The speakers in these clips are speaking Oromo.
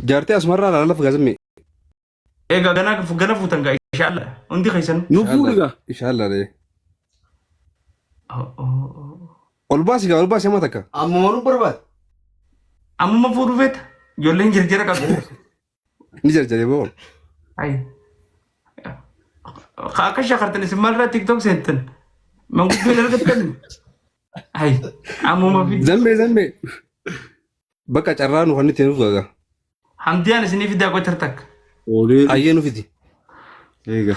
Jaartee asmarraa laalaf gaazimee. Egaa gana gana fuutan gaa inshallah hundi keessan. Nu fuudhu gaa. Inshallah dee. Ol baasi gaa ol baasi amma takka. Amma malu barbaad. Amma fuudhu feeta. Ijoolleen jirjira qabu. Ni jarjare boo. Ay. Akka shakartan isin maalirraa tiktok seentan? Manguddoo hin argattan? Ay. Ammuma fi Zammee zammee. Bakka carraa nu kan itti nuuf gaga. hamdiyaan isinii fidaa qotar takka. Olee Ayyee nu fidi. eega.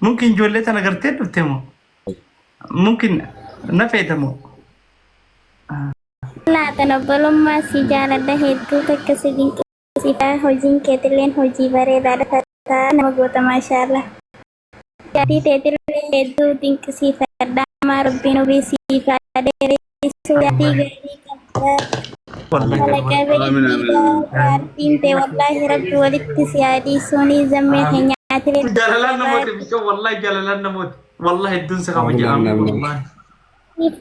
Mungkin ijoollee tana gartee dhufte moo? Mungkin na feeta moo? Laatan obbolummaa si jaaladha hedduu takka si dinqisiifadha hojiin keetilleen hojii bareedaadha fataa nama goota maashaallah jaatii teetillee hedduu dinqisiifadha amaa rabbiin umrii siif haa dheeressu Jalalaan namooti bicha wallahi jalalaan namooti wallahi hedduun si kabaja Amiin, amiin. wallahi.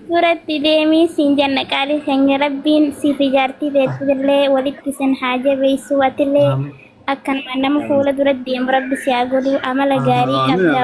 Suuratti deemii siin janna qaalii keenya rabbiin siif ijaartii beeksifillee walitti isin haa jabeessu atillee Amiin. akkanuma nama fuula dura deemu rabbi si haa godhu amala gaarii qabda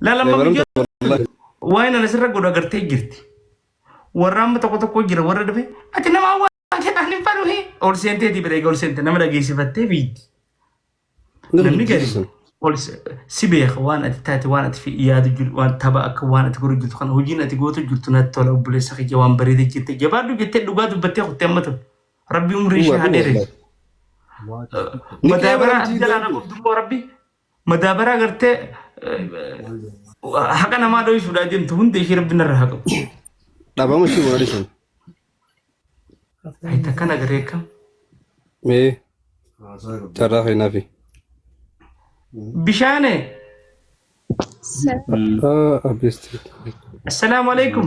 Lalaman Dabalamta biyyoota wallahi. waa'ee lala sirra godhu agartee jirti. Warra amma tokko tokko jira warra dhufe ati nama waan jedhaan hin faluhi. Ol seentee ti bira ol seente nama dhageessifattee biitti. Nama Namni gari jibbisu sun. ol se- si beeka waan ati taate waan ati fi- yaadu jiru waan tapha akka waan ati godhu jirtu kana hojiin ati gootu jirtu natti tola obboleessa kiyya waan bareeda jirte jabaadhu jettee dhugaa dubbattee kuttee amma tun. Rabbi umrii ishee Dhugaa haa dhugaa dheeressu. wallahi. Ni Madaa baraa qeebalamti. jalaa na qabdu immoo rabbi. madaabaraa gartee haqa namaa dhoysuudhaa deemtu hunda ishee rabbi narra haa qabu. Dhabama ishee mana dhisan. Ayi takkan agarree akkam. Mee carraa keenyaafi. Bishaane Abbeesti. assalaamu alaikum.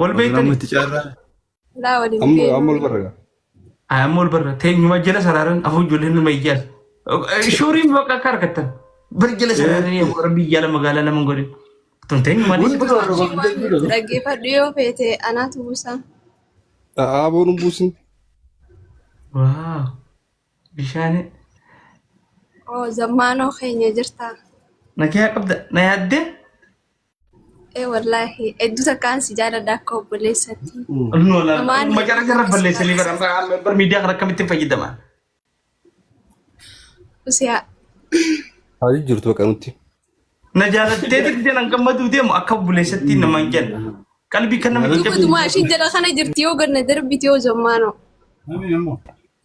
Wal Amma beektanii? itti caarraa. Laa waliin Amma amma beeknu. ol barraga. Amma wal barra. Teenyuma jala saraaran afur ijoolleen nama ijjaas. Shuuriin bakka akka argattan. Bar jala saraaran yoo warra biyya lama magaalaa lama godhe. Tun teenyuma Hundi dhiisii. barra Hojii waan barra barra. dhaggeeffadhu yoo feete anaatu buusa. Aaboo nu buusin. Waaw. Bishaanii. Oo zammaanoo keenya jirta. Nagaa qabda. Na yaaddee? Ee wallaahi hedduu takkaan si jaaladha akka obboleessatti. Mamaan Macara jarra balleessanii bara bara miidiyaa kana akkamitti fayyadama? Usiyaa. Haalli jirtu bakka nutti. Na jaalattee didde nan gammaduu deemu akka obboleessatti namaan jenna. Qalbii kan nama Dhuga jajjabeessu. dumaa ishiin jala kana jirti yoo ganna darbiti yoo zammaanoo.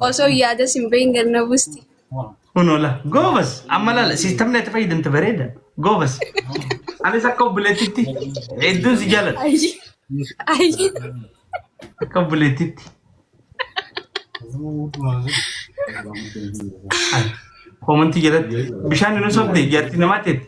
Osoo yaada sin bahin ganna busti. Kun oola. Goobas. Amma laala. Siistamni ati fayyadamte bareeda. Goobas. Anis akka obboleettitti hedduun si jaalladha. Ayyi. Ayyi. Akka obboleettitti. Koomantii jalatti bishaan hin osofte jaartii namaa teetti.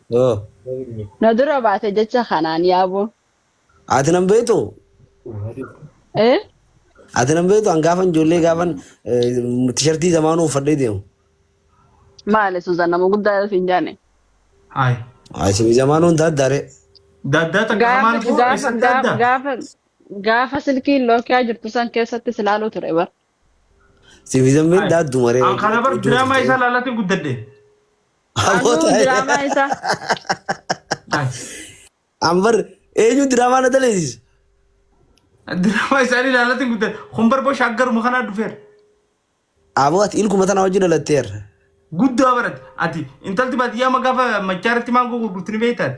Yoo. Na dura baate jecha kanaan yaaboo. Ati nan beektu? Eh? Ati nan beektu an gaafan ijoollee gaafan tishartii zamaanuu uffadhee deemu. Maali Suzan nama guddaa siin jaane. Haay. Asin zamaanuu hin daaddaare. Daaddaa takka Gaafa hamaan koo gaafa eessatti gaafa adda? gaafa gaafa silkiin lookiyaa jirtu san keessatti silaaluu ture bar. Siif zammiin Ay. daaddu maree. An kana bar diraamaa isaa laalatiin guddadhe. Anuu diraamaa isaa. Ay. An bar eenyu diraamaa na daleessisu. Diraamaa isaanii laalatiin guddadhe. Kun bar bosha aggaruma kanaa dhufeera. Aboo ati ilkuma tanaa wajjin dhalatteerra. Guddaa barate. Ati intalti baadiyyaa ma gaafa machaa irratti maangoo gurgurtu ni beektaati.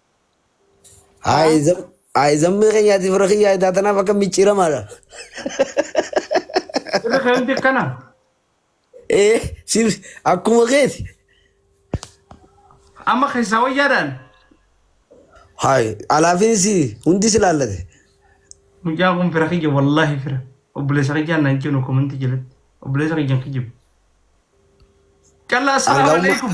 Aizam Aizam me kenya ti fira kiyya ita tana faka michira mala. Irra keemti akkana. Eh sir akkuma keeti. Amma keessaa wayyaadhaan. Hai alaafin si hundi si laallate. Mucaa kun fira kiyya wallaahi fira. Obboleessa kiyyaan naan jennu komantii jalatti. Obboleessa kiyyaan kijjibu. Callaa assalaamu Hanga amma- alaikum.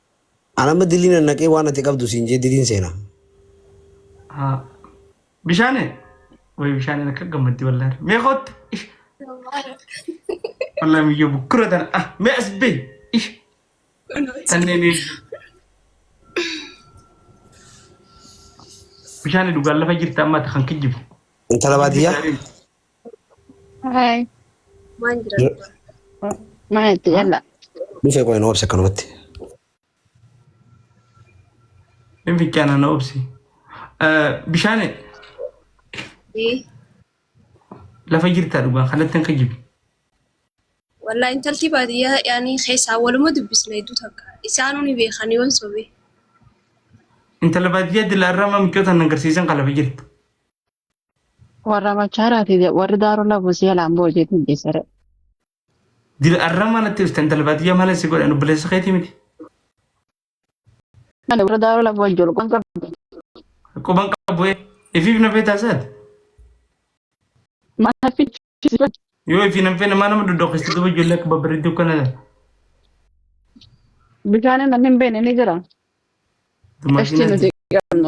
An amma dilii nan naqee waan ati qabdu siin jee diliin seena. Haa. Bishaane. Way bishaaneen akka gammaddi wallahi. Mee kootti. Ish. Wallahi miyyoo bukkura tana. Ah, mee as bee. Ish. Tanneen eegdu. Bishaane dhugaan lafa jirta amma ati kan kijjibu. Intala baadiyyaa. Hi. Waan jira Jira. dhugaa. Maal itti galla? Dhufee qoy nu obsa kanumatti. Hin fichaana na obsi. Bishaan Ee, lafa jirtaa dhugaa kanatti akka jibi. Wallaahi intalti baadiyyaa yaanii keessaa waluma dubbisna hedduu takka. Isaanuu ni beekan yoon sobe. Intala baadiyyaa dilaarraa amma micoota na agarsiisan kan lafa jirtu. Warra machaaraati je- warri daaroo labu si alaan boo jeetiin jeesare. Dil arra mana tirta intala baadiyyaa maala si godhan obboleessa keetii miti. Ani warra daaroo labu wajjin olqoon qabu. Quban qabu ee. Ifiif na feetaa isaati. Mana fichisiifan. Yoo ifi nan feena maa nama doddoqeessa duba ijoollee akka babbareedduu kana Bishaaniin namni hin beekne ni jira. Qashtii dumaashinaa nuti qabnu.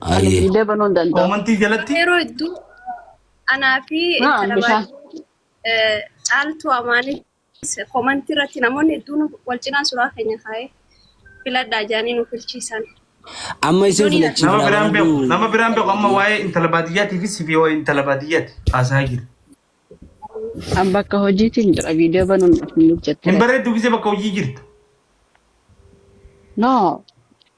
Ayyee. Viidee banuu hin danda'u. Koomantii jalatti Yeroo hedduu anaa fi Haa, intala bishaan. baay'ee caaltuu amaanis komantii irratti namoonni hedduun wal cinaa suuraa keenya kaa'ee filadhaa jaanii nu filchiisan. Amma isin Iddoon nama filachiifna biraan waan beeku hunduu. nama biraan beeku amma waa'ee intala baadiyyaatiif sifi waa'ee intala baadiyyaati haasaa jiru. An bakka hojiitiin jira viidee banuun hin Hin hojjettire. bareeddu gisee bakka hojii jirtu. No.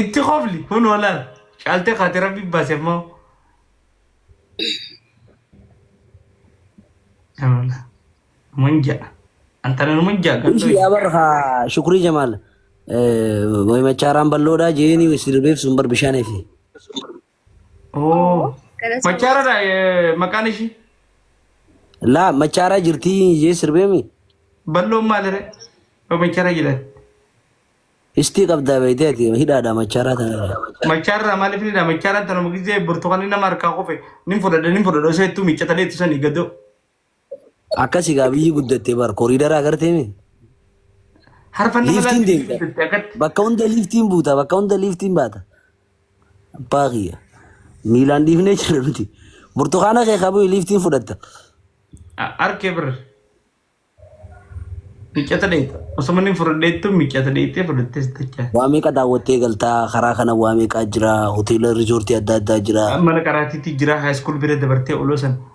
Itti kofli kun oolan caaltee kaate rabbi baase immoo. Amala. Munja. Antana munja Ishii gandoo. yaa bar haa shukrii jamaal. Wayi machaaraan balloodhaa jeeni sirbeef sun bar bishaan efi. Oo. Machaaradha eh, maqaan ishii. Laa machaaraa jirtii jee sirbeemi. Balloon maalire? Yoo machaara jedhan. Istii qabdaa beeytee ati hidhaadha machaaraa tanarra. Machaarraa maaliif ni dha? Machaaraan tanuma gisee burtukaanni nama harkaa kufe nin fudhadha nin fudhadha osoo ittuu miiccatalee ittisanii gadoo. Akkasi gaa biyyi guddatte bar koriidara agartee mi? Harfan nama Liiftiin laatti deemta. guddatte akkatti. Bakka hunda liiftiin buuta bakka hunda liiftiin baata. Abbaa kiyya miilaan dhiifnee jirra nuti. Burtukaana kee qabuu liiftiin fudhatta. Arkee bira. Miccata dheeta. Osoo manni fudhadheettu miccata dheetee fudhattee sittachaa. Waa meeqa daawwattee galtaa karaa kana waa meeqaa jira hoteela riizoortii adda addaa jira. Mana qaraatiitti jira haayiskool bira dabartee oloo san.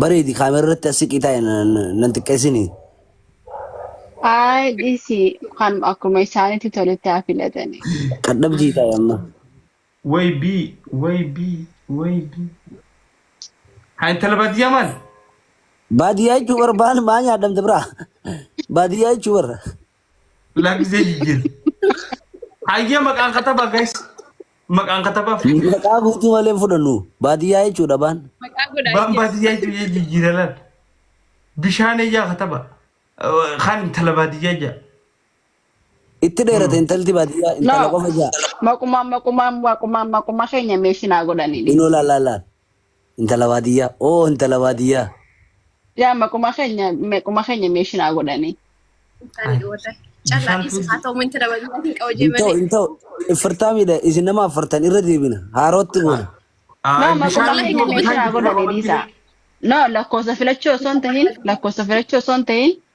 Bareedi kaamera irratti as siqii taa'e nan xiqqeessinii. Ayi dhisi kan akkuma isaanitti toletti haa filatani. Qadhabdii taa'e amma. Way B, way B, way B. Haa intala baadiyyaa maal? Baadiyyaa jechuun bara baan maa nyaadhamte biraa. Baadiyyaa jechuun bara. Lakkisee jijjiir. Hayyee maqaan katabaa guys. Maqaan katabaa fudhadha. Maqaa guutuu malee hin fudhannu. Baadiyyaa jechuudha baan. Maqaa godhaa Baan jechuudha. baadiyyaa jijjiiree jijjiira laal. Bishaan ijaa kataba. Kan intala baadiyyaa ijaa. Itti dheerate intalti baadiyyaa intala qofa jaa. Maqumaan maqumaan maqumaan maquma keenya meeshinaa godhanii. Inoo laal laal laal. Intala baadiyyaa oo intala baadiyyaa. Yaa maquma keenya maquma keenya meeshin haa godhanii. Ani warra callaa dhiisi haa ta'u minti dhabanii hin qabu jee Intoo malee. intoo ifirtaa miidha isin nama afurtan irra deebina haarootti goona. No Ay, maquma bishaan keenya iddoo meeshin bishaan haa itti godhanii godhamanii dhiisaa. No lakkoofsa filachuu osoo hin tahin lakkoofsa filachuu osoo hin tahin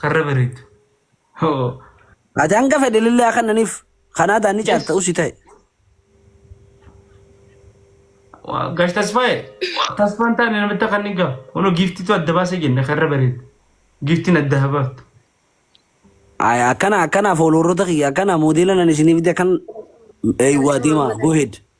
Karra bareedu. Hoo. Ati hanga fedhe lillee haa kannaniif kanaa taan ni caalta usi ta'e. Waa, Gash tasfaa'e. Tasfaan taane namitti akka inni ga'a. Kunoo giiftitu adda baasee jenne karra bareedu. Giiftiin adda haa baaftu. Ay, Akkana akkana fooloorota kiyya akkana moodeela nan isiniif fide akkan eeywaa deemaa go ahead.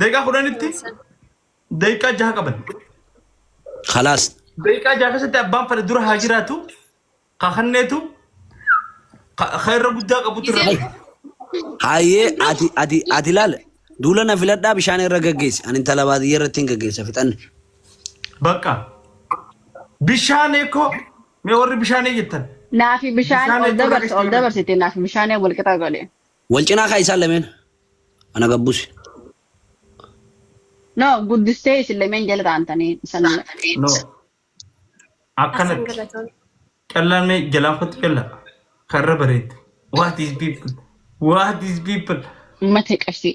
Daqiiqaa kudhanitti daqiiqaa jaha qaban. Khalaas. Daqiiqaa jaha keessatti abbaan fedhe dura haa jiraatu. Ka kanneetu ka ka irra guddaa qabutu irra Gisee- qabu. Hayyee ati ati ati laal duula na filadhaa bishaan irra gaggeessi. Ani intala baadiyyaa irratti hin gaggeessa fixanne. Bakka. Bishaan eekoo mee warri bishaanii jettan. Naafi bishaan Bishaan ol eeguu dabarse ol rakkistuu dabarsite naafi bishaan wal qixa godhe. Wal cinaa kaa'i isaan lameen. Ana gad busi. No, guddistee isin lameen jalirra aantanii isan No. Asan Akkanatti. galatoon. Callaan mee jalaan kottu callaa. Karra bareeddu. What is people? What is people? mate qabsii.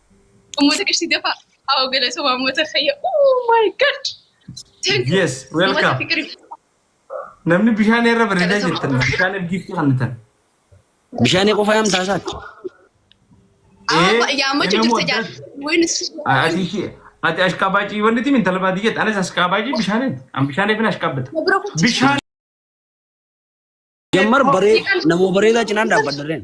Ummuuta qishti dafaa. Hawa galatoomaa uummata fayya. Oh my god. Thank you. Yes, welcome. Uummata fikirii. Namni bishaan irra bareedaa Galatama. jettan bishaan ergiifti kennitan. Bishaanii qofa yaam taasaati. Ee, Aa, yaammachuu inni jirta jaan. moodaa- Wayne Ati ishee ati ashqaabaacii wanti timi intala baadii jette anis ashqaabaacii bishaaniin an bishaaniif hin ashqaabbata. bira kutti. Bishaan Jammar baree namoo bareedaa cinaan dhaabbadarreen.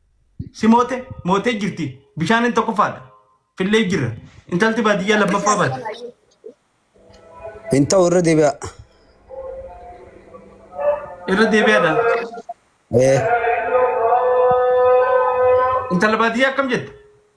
Si moote mootee jirti. Bishaaniin tokkoffaadha. Fillee jirra. Intalti baadiyyaa lammaffaa baate. Hin ta'u irra deebi'a. Irra deebi'aadha. Ee, Intala baadiyyaa akkam jette?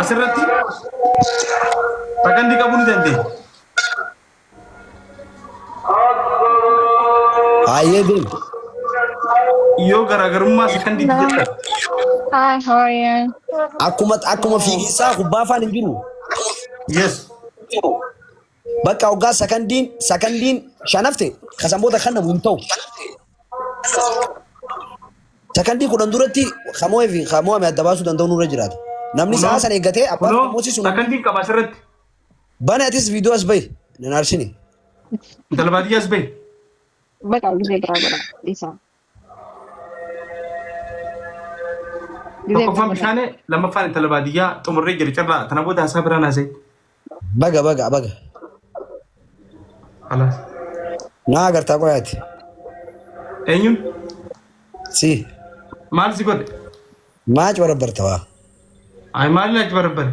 asirratti sakandii qabuu ni dandeenya. Hayyee deem. Yoo garaagarummaa sakandii jettan Hi, how are you? Akkuma akkuma fiigisaa kubbaa afaan hin jiru. yes Bakka hoggaa sakandiin sakandiin shan hafte kasan booda kennamu hin ta'u. Sakandii kudhan duratti kamo'ee fi kamo'ame adda baasuu danda'u nurra jiraata. Namni sa'a sana eeggatee abbaan Kunoo kamoosii sun sakandiin qaba asirratti. bane atis viidiyoo as bahi. Nan aarsine. Intala baadiyyaa as bahi. Bakka gisee biraa godha dhiisaa. Tokkoffaan bishaanee lammaffaan intala baadiyyaa xumurree jira carraa tana booda haasaa biraa naasee. Baga baga baga. Alaas. Naa agartaa qoyaati. Eenyuun Si maal si godhe? maac barabbarta waa. Ayi maal ilaalchi barabbare?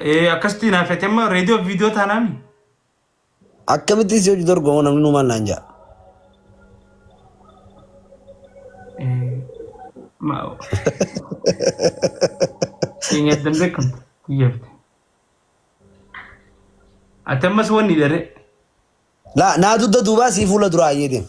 Eh, akkasitti naaf fete amma reediyoo fi viidiyoo taanaami. Akkamitti si hojii dorgomoo namni nu maal naan ja'a. Eh, ma- Keenya addan beekamtu kiyyaafte. Ati ammas wanni dharee. Laa naa dugda duubaa sii fuula duraa ayyee deema.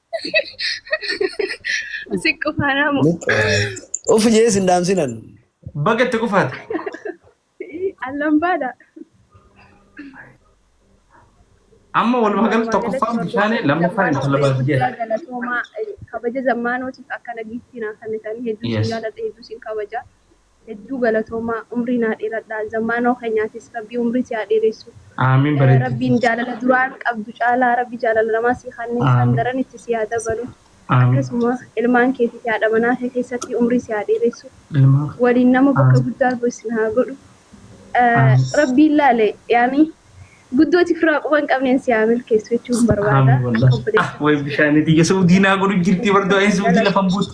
Si qufaanaa moo? Of jee sin dhaamsinan. Baga itti qufaate. Allan baadha. Amma walumaa galatti tokkoffaan bishaanii lammaffaan intala baadiyyaa. Galatoomaa kabaja zammaanootiif akkana giiftii naa kennitanii hedduu Yes. sin jaalladha hedduu sin kabaja. Hedduu galatoomaa umrii naa dheeradhaa zammaanoo keenyaatis rabbii umrii si haa dheeressu Aamiin bareedduti. rabbiin jaalala duraan qabdu caalaa rabbi jaalala namaa sii haa kennu kan daran itti sii haa dabalu Aamiin. akkasuma ilmaan keetii fi haadha manaa kee keessatti umrii si haa dheeressu Ilmaan kee. waliin nama bakka Aamiin. guddaa gahu isin haa godhu Aamiin. rabbiin laale yaani guddooti firaa quba hin qabneen si haa milkeessu jechuun barbaada Aamiin akka wallahi. Ah obboleessa way bishaaniti yesuu diinaa godhu jirti bardo ay suuti lafan buutu.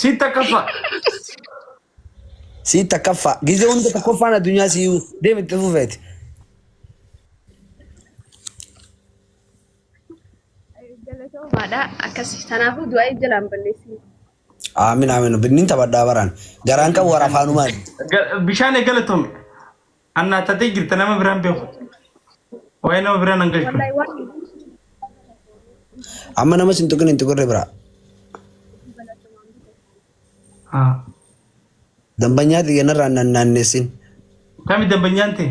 Siit takkaffaa. Sii takkaffaa. Gizee hunda tokkoffaan addunyaa siiyuu deemi itti fufeeti. Galatoomaadha akkas kanaafuu du'aa jalaan balleessine. Aamin aamin binniin taphadhaa baraan. Garaan qabu warra afaanumaan. Ga- Bishaan eegala tome. Annaa tatee jirta nama biraan beeku. Waa'ee nama biraan an galchu. Wallahi waan Amma nama sin tuqin hin tuqirre biraa. Haa. Dambanyaa xiyya narraa nan naannessin. Kami dambanyaan ta'e?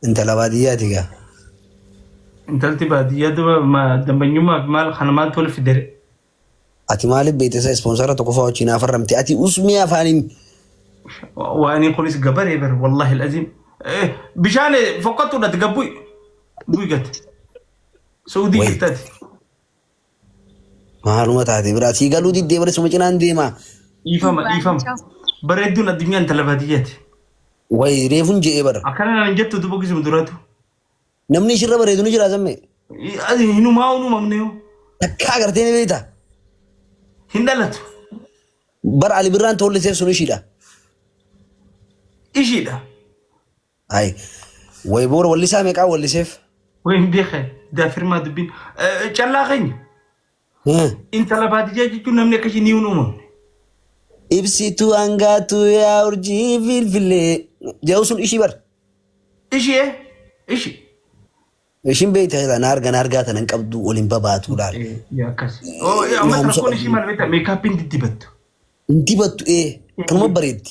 Intala baadiyyaati gaa. Intalti baadiyyaa duba ma- dambanyummaa fi maal kana maaltu wal fidere? Ati maaliif beektesa ispoonsara tokkoffaa wajjin hafarramte ati usmii afaaniin Waanii kunis gabaree bar wallahi alazim. Bishaan fokkattuu dhati gabbui. Bui gate. Saudii Wait. jirtati. maaluma taate biraa sii galuu diddee bara suma cinaan deema. Dhiifama dhiifama. Bareedduun addunyaan talabaatiyyati. Wayi reefun je'ee bara. Akkana naan jettu dubbisuma duraatu. Namni ishirra bareedu ni jira sammee. Ati hinumaa hin uumamne yoo. Takka agartee ni beekta. Hin dhalatu. Bara Ali Birraan toolliseef sun ishiidha. Ishiidha. Hayi. Wayi boora wallisaa meeqaa walliseef. Wayin beekan. Daafirmaa dubbiin. Callaa keenya. Hee. Intala baadiyyaa jechuun namni akka ishii ni hin uumamne. Ibsituu hangaatuu yaa urjii filfilee. Ja'u sun ishii bar. Ishii ee? Ishii. Ishiin beektaa jira na arga na argaa tanan qabdu waliin babaatu laal. Eh, yaa akkas. Oh, eh, amma Naamusa rakkoon ishii qabdi. maal beektaa? Meekaappiin diddibattu. Hin dibattu ee kanuma bareeddi.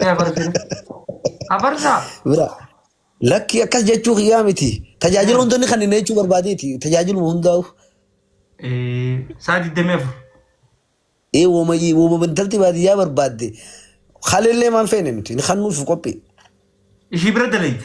Ee afarsina. Afarsaa. Bira. Lakki akkas jechuu kiyyaa miti. Tajaajila hundoonni kan inni jechuu barbaadeeti. Tajaajiluma hundaa'u. Ee saa 24. Ee woma woma intalti baadiyyaa barbaadde. Haleellee maan feene nuti. Inni kan nuuf qophii. Ishii bira dalayda.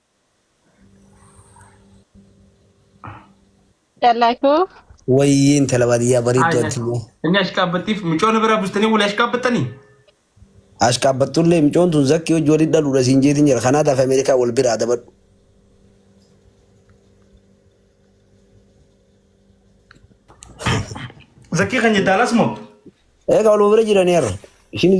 Callaa koo Wayyii intala baadiyyaa bareedduu Ayi, addunyaa. Inni ashkaabbattiif micoona biraa bustanii wal ashkaabbattanii? Ashkaabbattullee micoon tun zakkii hojii waliin dhaluudha siin jeetiin jira. Kanaa taaf Ameerikaa wal biraa dabadhu. Zakkii kan jeddaalaas moo? Egaa wal bira jiraniiru. Ishiin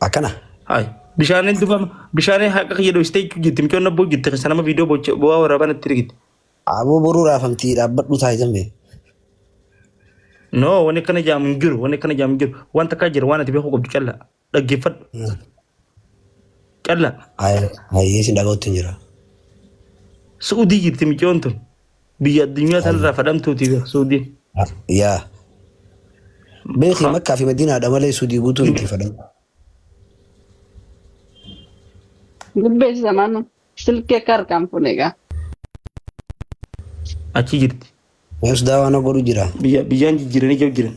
Akkana. Hai. Bishaaniin dubama. Bishaaniin haqa kiyya dhoksitee jechuu jirti. Micoon abboo jirti. Keessa nama viidiyoo bocha bu'aa waraabaa natti rigite. Aboo boruu raafamtii dhaabbadhu taayitan bee. No, wanni akkana jaamu hin jiru. Wanni akkana jaamu hin jiru. Waan takkaa jira. Waan ati beekuu qabdu callaa. Dhaggeeffadhu. Callaa. Hayyee sin dhaga'utti hin jira. Su'udii jirti micoon tun. Biyya addunyaa Ay, tanarraa fadhamtuuti beeku suudiin. ah, yaa beekii Ha. makkaa fi madiinaadha malee sudii guutuu miti fadhamu Gubbeessi samaanu silkii akka harkaan fuune egaa. Achi jirti. meesdaa waan godhu jira Biyya biyyaan jijjiiranii jab jiran.